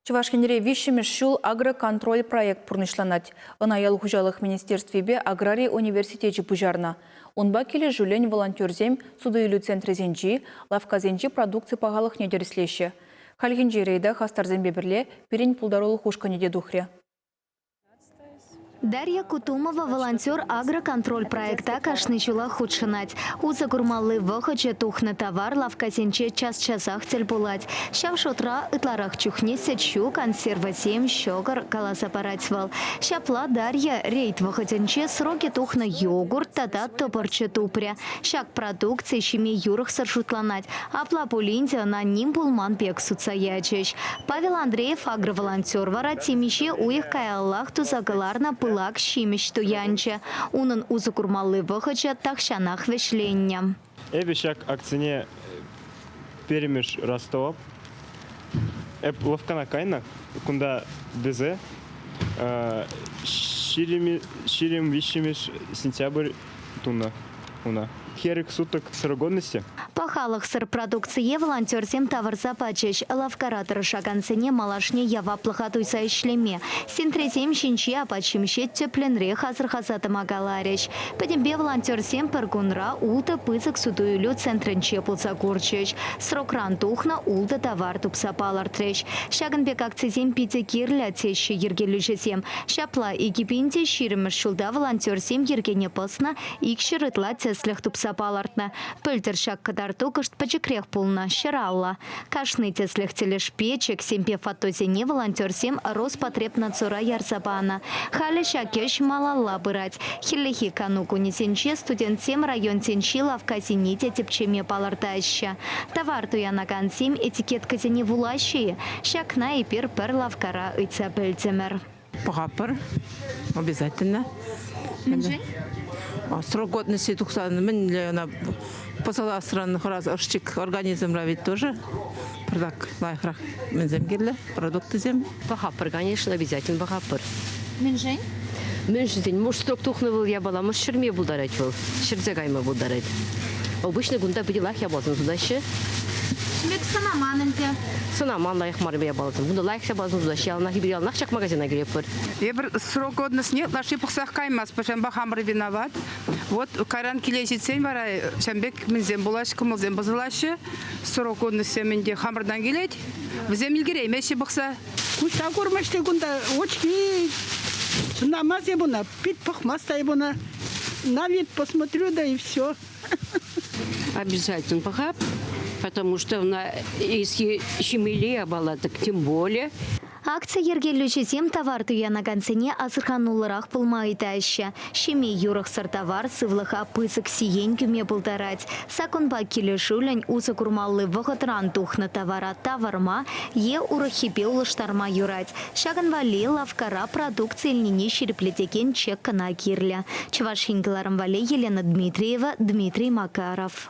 Чӑваш Енре виҫҫӗмӗш ҫул агроконтроль проект пурнӑҫланать. Ӑна ял хуҫалӑх министерствипе аграри университечӗ пуҫарнӑ. Унпа килӗшӳллӗн волонтерсем суту-илӳ центрӗсенчи, лавккасенчи продукци пахалӑхне тӗрӗслеҫҫӗ. Хальхинче рейда хастарсемпе пӗрле пирӗн пултарулӑх ушкӑнӗ те тухрӗ. Дарья Кутумова волонтер агроконтроль проекта кашни ҫулах хутшӑнать. Усӑ курмалли вӑхӑчӗ тухнӑ тавар лавккасенче час-часах тӗл пулать. Ҫав шутра ытларах чухне сӗт-ҫу, консервӑсем, ҫӑкӑр, каласа парать вӑл. Ҫапла Дарья рейд вӑхӑтӗнче срокӗ тухнӑ йогурт тата тӑпӑрчӑ тупрӗ. Ҫак продукци ҫиме юрӑхсӑр шутланать, Апла пулин те ӑна ним пулман пек сутса ячӗҫ. Павел Андреев агроволонтер вара темиҫе уйӑх каяллах туса кӑларнӑ пылак ҫимӗҫ туянчӗ. Унӑн усӑ курмалли вӑхӑчӗ тахҫанах вӗҫленнӗ. Эпӗ ҫак акцине пӗрремӗш раз тӑвап. Эп лӑвккана кайнӑ кунта тесе ҫирӗм виҫҫӗмӗш сентябрь тунӑ уна. Хӗрӗк, сутӑк, сыргонности. Пахалӑхсӑр продукцие волонтерсем тавӑрса пачӗҫ. Лавккара тӑрӑшакансене малашне яваплӑха туйса ӗҫлеме, сентресем ҫинчи апат-ҫимӗҫе тӗплӗнрех асӑрхаса тӑма каларӗҫ. Пӗтӗмпе волонтерсем пӗр кунра ултӑ пысӑк суту-илӳ центрӗнче пулса курчӗҫ, срокран тухнӑ ултӑ тавар тупса палӑртрӗҫ. Ҫакӑн пек акцисем питӗ кирлӗ, теҫҫӗ йӗркелӳҫӗсем. Ҫапла, икӗ пин те ҫирӗммӗш ҫулта волонтерсем йӗркене пӑснӑ икҫӗр ытла тӗслӗх тупса палӑртнӑ. Пӗлтӗр ҫак кӑтарту кӑшт пӗчӗкрех пулнӑ, ҫӗраллӑ. Кашни тӗслӗх тӗлӗшпе чексемпе фотосене волонтерсем Роспотребнадзора ярса панӑ. Халӗ ҫак ӗҫ малалла пырать. Хӗллехи кану кунӗсенче студентсем районсенчи лавккасене те тӗпчеме палӑртаҫҫӗ. Тавар туянакансем этикеткӑсене вулаҫҫӗ-и? Ҫакна эпир пӗр лавккара ыйтса пӗлтӗмӗр. Пӑхатпӑр обязательно. Мӗншӗн? Срокгодности тухсан мӗнле ӑна пӑсӑласран хӑрас ӑшчик организмра ведь тоже пӗртак лайӑхрах мӗнсем кирлӗ продуктсем. Пӑхатпӑр, конечно, обязательно пӑхатпӑр. Мӗншӗн? Мӗншӗн? Муштрук тухнӑ вӑл япаламӑш ҫӗрме пултарать вӑл, ҫӗрсе кайма пултарать. Обычно кунта питӗлах япаласем сутаҫҫӗ. Ӗҫлет сӑнаман ӗнтӗ. Сӑнаман лайӑх мар япаласем. Кунта лайӑх япаласем сутаҫҫӗ. Яланах эпир яланах ҫак магазина килетпӗр. Эпир срок годностьне ытлашши пӑхсах каймасть, пӗрчампа хамӑр виноват. Вот кайран киле ҫитсен вара ҫавӑн пек мӗнсем пулаҫҫӗ, кӑмӑлсем пӑсӑлаҫҫӗ. Срок годностьсем ӗнтӗ хамӑртан килет. Вӗсем ӗлкӗреймеҫҫӗ пӑхса. Куҫа курмасть кунта, очки. Чӑнамас ебуна, пит пӑхмасть ебуна. На вид посмотрю, да и все. Обязательно похаб, потому что если щемелее балаток, тем более. Акци йӗркелӳҫӗсем тавар туянакансене асӑрхануллӑрах пулма ыйтаҫҫӗ. Ҫими юрӑхсӑр тавар сывлӑха пысӑк сиен кӳме пултарать. Саккунпа килӗшӳллӗн усӑ курмалли вӑхӑтран тухнӑ тавара тавӑрма е урӑххипе улӑштарма юрать. Ҫакӑн валли лавккара продукци илнине ҫирӗплетекен чек кӑна кирлӗ, Чӑваш Ен кӑларӑм валли Елена Дмитриева, Дмитрий Макаров.